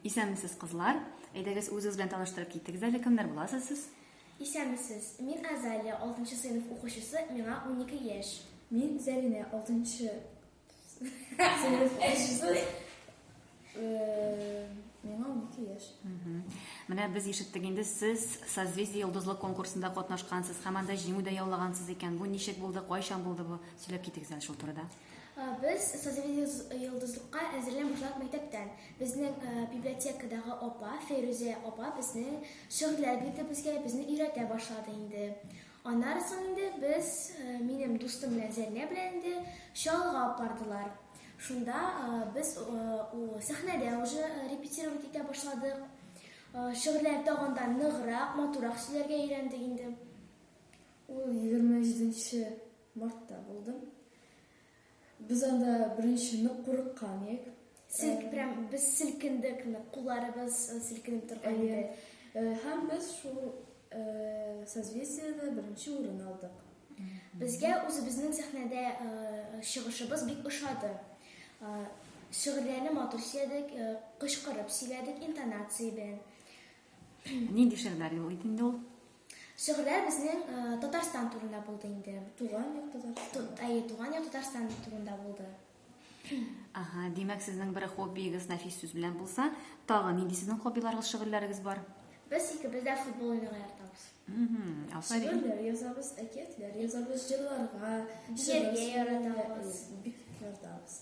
Исәнмесез, кызлар. Әйдәгез, үзегез белән таныштырып китегез әле, кемнәр буласыз сез? Исәнмесез. Мин Азалия, 6 сыйныф укучысы, миңа 12 яшь. Мин Зәринә, 6 сыйныф укучысы, э, миңа 12 яшь. Менә без ишеттек инде, сез Созвездие йолдызлык конкурсында катнашкансыз һәм анда җиңү дә яулагансыз икән. Бу ничек булды, кайчан булды бу? Сөйләп китегез әле шул турыда. Без созрение йолдызлыкка әзерлән башлап мәктәптән. Безнең библиотекадагы апа, Фәйрүзә апа безнең шигырьләр бирде безгә, безне өйрәтә башлады инде. Аннары соң инде без минем дустым белән Зәлнә белән инде Чалга апардылар. Шунда без сәхнәдә уже репетировать итә башладык. Шигырьләр тагын да ныграк, матурак сөйләргә өйрәндек инде. Ул 27 нче Мартта булдым. Без анда беренче нык курыккан идек. Сел, прям без селкендек, кулларыбыз э, селкенеп торган иде. Э, һәм без шул э, созвездиедә беренче урын алдык. Безгә үзебезнең сәхнәдә чыгышыбыз бик ошады. Шигырьләрне матур сөйләдек, кычкырып сөйләдек интонация белән. Нинди шигырьләр юк иде инде ул? Шигырьләр безнең э, Татарстан турында булды инде. Туган як Татарстан. Әйе, туган як Татарстан турында булды. Ага, димәк, сезнең бер хоббиегез нәфис сүз белән булса, тагы нинди сезнең хоббиларыгыз, шигырьләрегез бар? Без икебез дә футбол уйнарга яратабыз. Шигырьләр язабыз, әкиятләр язабыз, җырларга, биергә яратабыз. Бик яратабыз.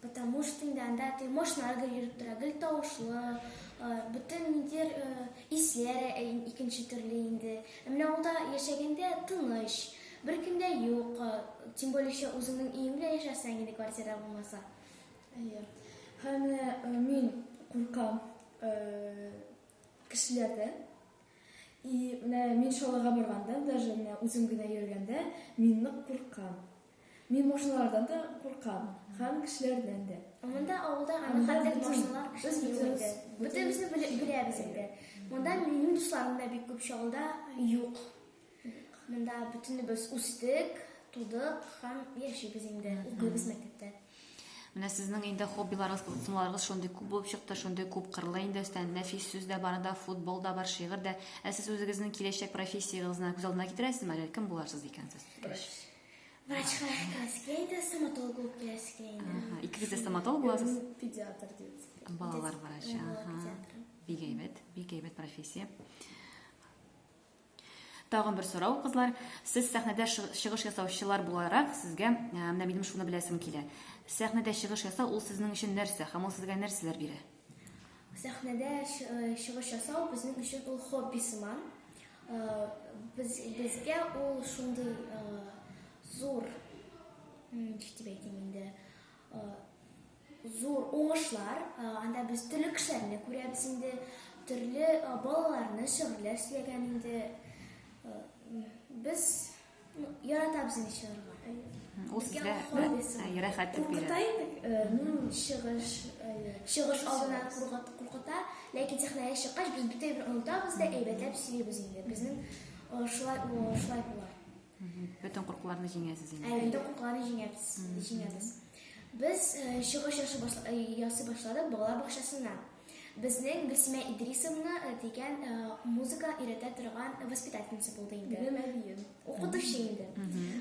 Потому что инде анда теге машиналарга йөреп тора, гел тавышлы, бөтен нидер исләре икенче төрле инде. Менә ул да яшәгәндә тыныч, бер кем дә юк, тем более еще үзеңнең өеңдә яшәсәң инде квартира булмаса. Әйе. Һәм мин куркам кешеләрдән. И менә мин шалага барганда, даже менә үзем генә йөргәндә, мин нык куркам. Мин машиналардан да куркам, һәм кешеләрдән дә. Монда авылда аны хәтта машиналар кеше юк Бөтенебезне беләбез инде. Монда минем дусларым да бик күп чалда юк. Монда бөтенебез үстек, тудык һәм яшибез инде, укыйбыз мәктәптә. Менә сезнең инде хоббиларыгыз, кызыксынуларыгыз шундый күп булып чыкты, шундый күп кырлы инде өстән нәфис сүз дә бар да, футбол да бар, шигырь дә. Ә сез үзегезнең киләчәк профессиягезне күз алдына китерәсезме әле? Кем буларсыз икән сез? Врач. Врачка керәскә инде, стоматолог булып керәскә инде. Ага, икегез дә стоматолог буласыз? Педиатр детский. Балалар врачы, ага. Бик әйбәт, бик әйбәт профессия. Тагын бер сорау, кызлар. Сез сәхнәдә чыгыш ясаучылар буларак, сезгә менә минем шуны беләсем килә. Сәхнәдә чыгыш ясау ул сезнең өчен нәрсә һәм ул сезгә нәрсәләр бирә? Сәхнәдә чыгыш ясау безнең өчен ул хобби сыман. Без, безгә ул шундый зур, ничек дип әйтим инде, зур уңышлар. Анда без төрле кешеләрне күрәбез инде, төрле балаларны, шигырьләр сөйләгән инде. Без Яратабыз инде чыгарга. Ул сезгә рәхәт дип бирә. Куркыта инде, чыгыш, чыгыш алдына куркыта, ләкин сәхнәгә чыккач без бөтен бер онытабыз да әйбәтләп сөйлибез инде. Безнең шулай шулай була. Бөтен куркуларны җиңәсез инде. Ә инде куркуларны җиңәбез, җиңәбез. Без чыгыш ясый башладык балалар бакчасына. Безнең Гөлсимә Идрисовна э, дигән э, музыка өйрәтә торган воспитательница булды инде. Минем әбием. Укытучы инде.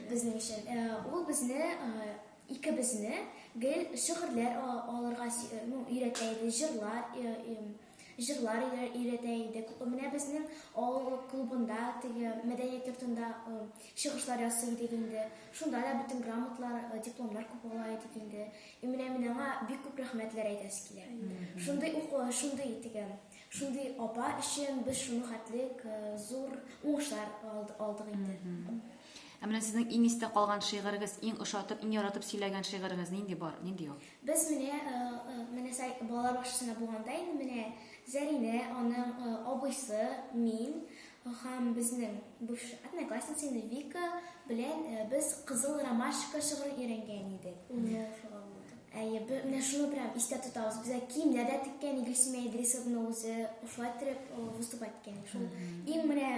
Безнең өчен. Э, Ул безне э, икебезне гел шигырьләр а- алырга сө- э, ну, өйрәтә иде, җырлар э, эм, җырлар өйрә- өйрәтә иде. Күп- Менә безнең авыл клубында, теге мәдәният йортында э, чыгышлар ясый идек инде. Шунда да бөтен грамотлар, э, дипломнар күп ала идек инде. И менә мин аңа бик күп рәхмәтләр әйтәсе килә. Шундый укуы, шундый итеге, шундый апа өчен без шуны хәтлек э, зур уңышлар алдык инде. Ә менә сезнең иң истә калган шигырегез, иң ошатып, иң яратып сөйләгән шигырегез нинди бар, нинди юк? Без менә э, э, менә сай балалар бакчасында булганда инде менә Зәринә, аның э, абыйсы, мин, Һәм безнең бу одноклассницаны Вика белән без Кызыл ромашка шыгырын өйрәнгән идек. Әйе, менә шуны прям истә тотабыз. Безгә киемнәр дә теккән Гөлсемә Идрисовна үзе шулай итеп выступать иткән. Шул иң менә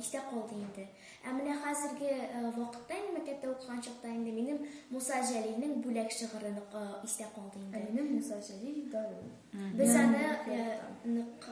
истә калды инде. Ә менә хәзерге вакытта инде мәктәптә укыган чакта инде минем Муса Җәлилнең бүләк шыгыры нык истә калды инде. Ә минем Муса Җәлил Дару. Без аны нык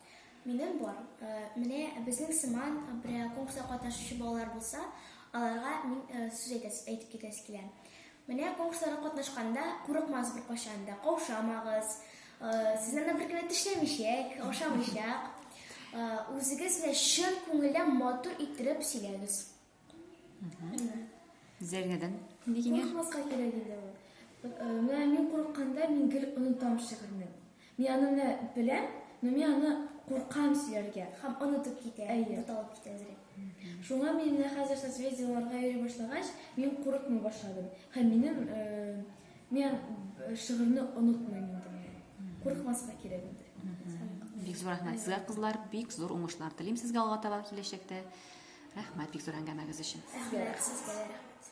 Минем бар. Менә безнең сыман берәр конкурста катнашучы балалар булса, аларга мин сүз әйтәс, әйтеп китәсе килә. Менә конкурсларга катнашканда курыкмагыз беркайчан да, каушамагыз. Сезнең дә беркем дә тешләмичәк, ашамыйчак. Үзегез белән чын күңелдән матур иттереп сөйләгез. Зәргәдән ни киңәш? Курыкмаска кирәк инде ул. Э, менә мин курыкканда мин гел онытам шигырьне. Мин аны менә беләм, но мин аны куркам сөйләргә. Һәм онытып китә, буталып китә әзрәк. Шуңа мин менә хәзер созвездиеларга йөри башлагач, мин курыкмый башладым. Һәм минем э, Мен шигырьне онытмыйм инде мин. Курыкмаска кирәк инде. Бик зур рәхмәт сезгә, кызлар. Бик зур уңышлар телим сезгә алга таба киләчәктә. Рәхмәт бик зур әңгәмәгез өчен. Сезгә рәхмәт.